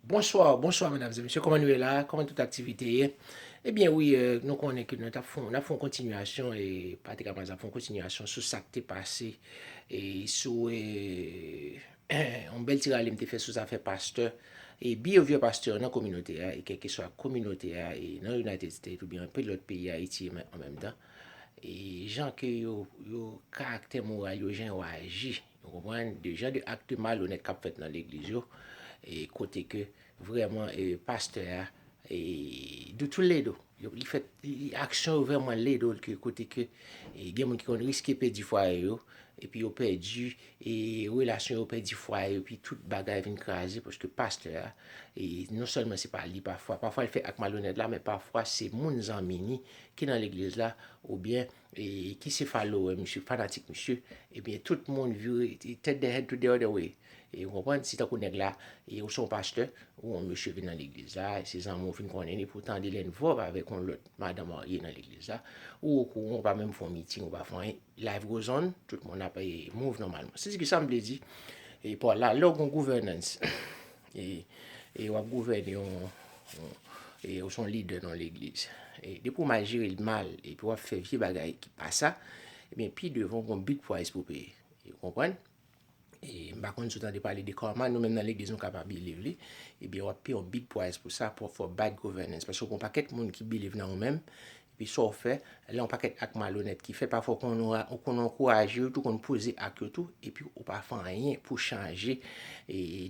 Bonsoir bonsoir mesdames et messieurs koman nou ye la koman tout aktivite ye ebyen wi nou konnen ke nou tap fon nap fon kontinyasyon e pati kapaz ap fon kontinyasyon sou sak te pase e sou e yon bèl ti rale m te fè sou zafè pastè e biyevye pastè nan kominote a e kèlkeswa kominote a e nan United States oubyen anpe lòt peyi Ayiti e menm an menm tan e jan ke yo yo karaktè moral yo jan yo aji Nou konprann de jan de akte malonèt kap fèt nan legliz yo e kote ke vrèman pastè a do tou ledo li fè aksyon yo vrèman ledo ke kote ke gen moun ki konn riske pèdi fwaye yo epi yo pèdi e relasyon yo pèdi fwaye epi tout bagay vin kraze paske pastè a e non sèlman se pa li pafwa pafwa li fè ak malonèt la men pafwa se moun zanmi ni ki nan legliz la oubyen E ki se follower misye, fanatik misye, ebyen tout moun vire turn their head to the other way. E ou konprann, si tankou nèg la, e ou se yon pastè, ou yon mesye vin nan legliz la, e se zanmi w fin konnen li, pou tande lè n vòv avèk yon lòt madan marye nan legliz la, ou okouran, ou pa menm fè yon meeting, ou pa fè anyen, life goes on, tout moun ap move nòmalman. Se di ki sa m vle di, e paw la, lè w gen yon gouvènans, E wap gouvène yon E ou son lidè nan legliz E depi ou mal jere l mal E pi wap fè vye bagay ki pa sa E ben pi devan ou gon bit pwaz pou peye E ou konprann E m pa konn si ou tande pale de karma Nou menm nan legliz nou ka pa biliv li E ben wap peye yon bit pwaz pou sa Pou w fè w bad govènans Paske gon pakèt moun ki biliv nan ou menm Epi sa w fè, lè yon pakèt ak malonèt ki fèt, pafwa ou konn ankouraje yo tou, ou konn poze ak yo tou, epi ou pa fè anyen pou chanje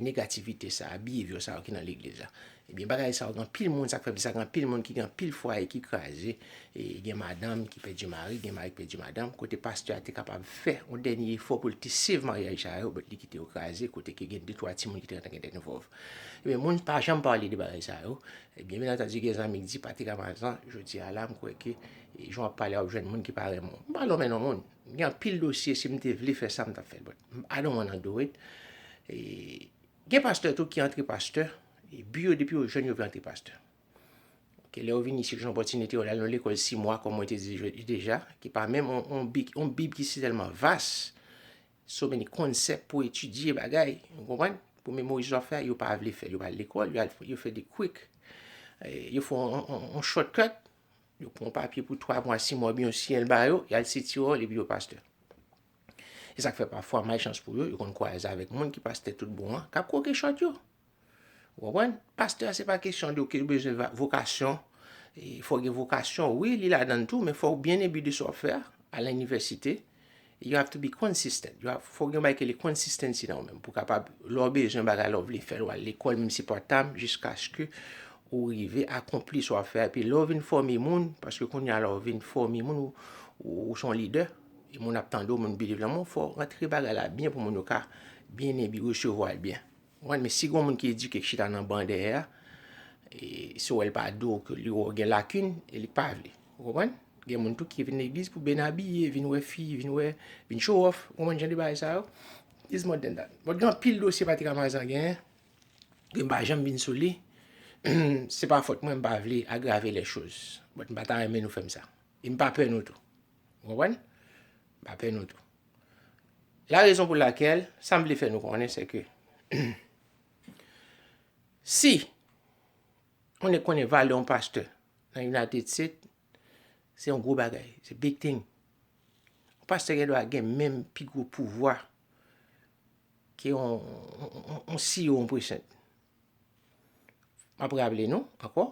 negativite sa a, biheviyò sa yo ki nan legliz la. Ebyen bagay sa yo gen anpil moun, sa k fè gen anpil moun ki gen anpil fwaye ki kraze, gen madanm ki pèdi mari, gen mari ki pèdi madanm, kote pastè a te kapab fè yon dènye efò pou l te save maryaj sa yo, bèt li kite yo kraze, kote ke gen de twa timoun ki te gentan gen dènn vòv. Ebyen moun pa janm pale de bagay sa yo, Ebyen byen antandu gen zanmi k di pati Ramazan, jodi a la m kwè ke jan w ap pale a w ap jwenn moun ki pa renmen w. M pa lonmen non moun. M gen anpil dosye si m te vle fè sa m t ap fè l but I don't wanna do it. Gen pastè tou ki antre pastè bi yo depi yo jèn yo vle antre pastè. Ok lè yo vini isit jwenn opòtinite yo al nan yon lekòl si mwa kòm mwen te di deja ki pa menm yon bib ki si tèlman vas So many concept pou etidye bagay, ou konprann? Pou memorize wap fè a, yo pa vle fè. Yo pa al lekòl, yo al yo fè de quick. Yo fè yon short cut, yo pran yon papye pou 3 mwa, 6 mwa oubyen yon siyèl ba yo, yal se ti wòl epi yo pastè. Se sak fè pafwa malchans pou yo, yo konn kwaze avèk moun ki pastè tout bon an, kap kwoke short yo. Ou konprann? Pastè se pa kesyon de ke ou bezwen vokasyon, fò gen vokasyon, wi li ladan tou, men fò ou byen enbi de sa w ap fè a, al nan inivèsite, you have to be consistent, fò gen yon bagay ki rele consistency nan ou menm, pou kapab, lè w bezwen bagay la, ou vle fè l, ou al lekòl, menm si se part time, jiskaske ou rive akonpli sa w ap fè a, epi lè w vin fòme moun, paske kounye a la ou vin fòme moun, ou se yon lidè, e moun ap tande w, moun believe nan ou, fò w rantre bagay la byen pou moun yo ka byen enbi, resevwa l byen. Konprann men si gon moun ki edike ki chita nan ban dèyè a e si w wè l pa do w ke li wè w gen lakin e li pa vle. Ou konprann? Gen moun tou ki vin legliz pou byn abiye, vin wè fi, vin wè, vin show off. Ou konprann jan de bagay sa yo? It's more than that. But gen anpil dosye Pati Ramazan genyen ke m pa janm vin sou li. Se pa fòt mwen, m pa vle agrave les choses. But m pa ta renmen nou fè m sa. E m pa pè nou tou. Ou konprann? M pa pè nou tou. La rezon pou lakèl, sa m vle fè nou konnen se ke si yon nèg konnen valè yon pastè nan United State, se yon gwo bagay. Se big thing. Yon pastè gen dwa gen menm pi gwo pouvwa ke yon CEO yon present. M ap raple nou ankò.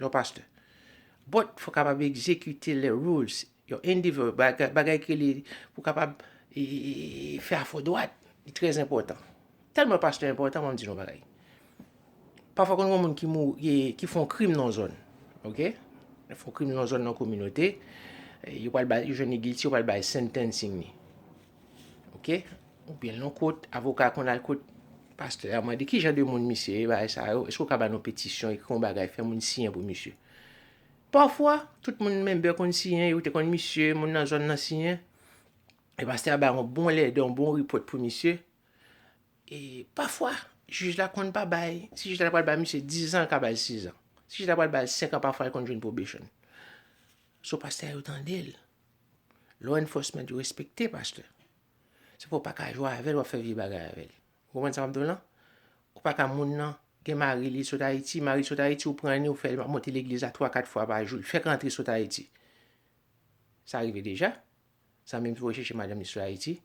Yon pastè. But fò kapab egzekite le rules. Yon endeavor, bagay ki rele pou kapab fè a fò dwat. Li trè enpòtan. Tèlman pastè enpòtan banm di nou yon bagay. Pafwa konn gen yon moun ki mou, ki fon krim nan yon zòn. Ok? Yo fon krim nan yon zòn nan yon kominote, yo pral bay, yo jwenn li gilti, yo pral bay sentencing li. Ok, ou byen lon kot, avoka konn al kot pastè a mande ki jan de moun misye ye, bagay sa yo, eskou ka ba nou petisyon, ekri yon bagay, fè moun siyen pou misye. Pafwa, tout moun menbè konn siyen, yo te konn misye, moun nan zòn nan siyen, e pastè a bay yon bon lède, yon bon ripòt pou misye, e pafwa, jij la konn pa bay, si jij la pral bay misye 10 an, l ka ba l 6 an, si jij la pral ba l 5 an, pafwa l konn jwenn pwobechon. So pastè a yo tande l. Law enforcement yo respekte pastè. Se pou w pa ka jwe avè l, w ap fè vye bagay avè l. Ou konprann sa m ap di w lan? Ou pa ka moun nan gen mari li sot Ayiti, mari l sot Ayiti, ou pran li ou fè l monte legliz la twa kat fwa pa jou, l fèk rantre sot Ayiti. Sa rive deja. Zanmi m te voye chèche madanm li sot Ayiti.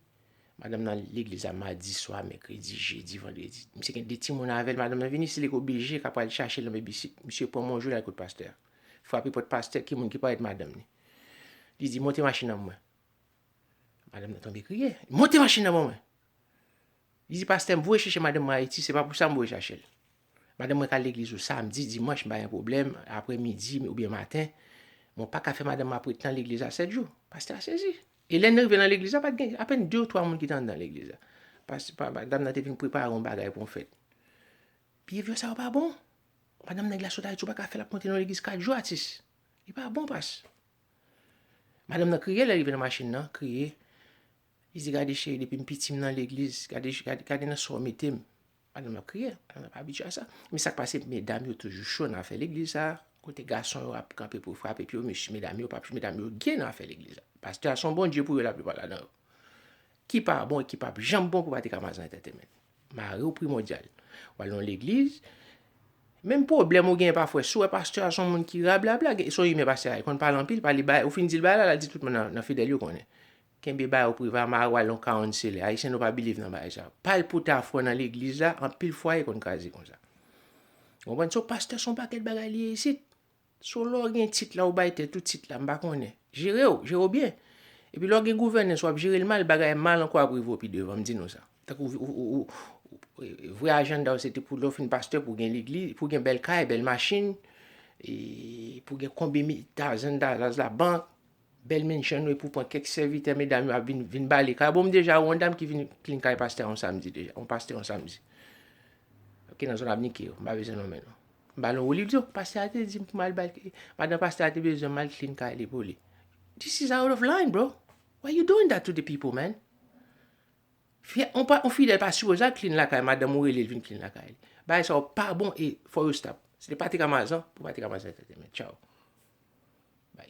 Madanm nan legliz la madi swa, mèkredi, jedi, vandredi. Misye gen de timoun avè l, madanm nan vini isit li oblije ka pral chache l nan bebisit. Misye pran m yon jou l al kot pastè a. Frape pòt pastè, ki moun ki parèt madanm li. Li di, monte machin nan pou mwen. Madanm nan tonbe kriye. Monte machin nan pou mwen. Li di, pastè, m voye chèche madanm mwen Ayiti, se pa pou sa m voye chache l. Madanm mwen ka al legliz ou samdi, dimanch, m pa gen pwoblèm, apre midi oubyen maten, men w pa ka fè madanm m ap ret nan legliz la sèt jou. Pastè a sezi. E lè n rive nan legliz la, pa t gen apèn de ou twa moun ki te anndan legliz la. Pas, pa, madanm nan te fin prepare yon bagay pou yon fèt. Biyevyè sa yo pa bon. Madanm nèg la sot Ayiti, ou pa ka fè l ap monte nan yon legliz kat jou, atis. Li pa bon pas. Madanm nan kriye lè li rive nan machin nan, kriye. Li di gade cheri depi m piti m nan legliz, gade gade nan sa w mete m. Madanm nan ap kriye, madanm nan pa abitye a sa. Men sa k pase medam yo toujou cho nan afè legliz sa a, kote gason yo ap kanpe pou frape pye yo mesye medam yo pa medam yo gee nan afè legliz la. Pastè a s on Bondye pou yo laplipa ladan yo. Ki pa bon e ki pap janm bon pou pa te ka mazen entètenmen. Mari w primòdyal. W al nan legliz, menm pwoblèm ou genyen pafwè, si w wè pastè a s on moun ki rablabla, s on imè pastè a, li konn pale anpil, pale bay, ou fin di l bagay la, l al di tout moun nan fidèl yo konnen. Kenbe bagay ou prive, mari w al nan kawon sele, Ayisyen nou pa biliv nan bagay sa yo. Pale pou w ta franc nan legliz la, anpil fwaye konn kraze konsa. Ou konprann? So pastè s on pakèt bagay li ye isit. So lè w gen tit la ou bay tèt ou tit la m pa konnen. Jere w, jere w byen. Epi lè w gen gouvènans wap jere l mal bagay mal ankò ap rive w pi devan m di nou sa. Tankou vrè ajanda w se te pou lè w fin pastè pou w gen legliz, pou w gen bèl kay, bèl machin, pou w gen konbe tazan, tazan labank. Bèl menn jan nou epou pran kèk sèvitè medam yo ap vin vin bale kay bon m deja wè yon dam ki vin klin kay pastè yon samdi deja yon pastè yon samdi ki nan zòn abnike yo m pa bezwen nonmen non m bal yon wo li di oh pastè a te dim pou mal bal ke madan pastè a te bezwen m mal klin kay li pou li this is out of line bro why you doing that to the people man fi a yon pa yon fidèl pa sipoze al klin lakay madanm ou rele l vin klin lakay li bagay sa yo pa bon e fò yo stop se te patrick amazan pou patrick amazan te te men tchaww bay.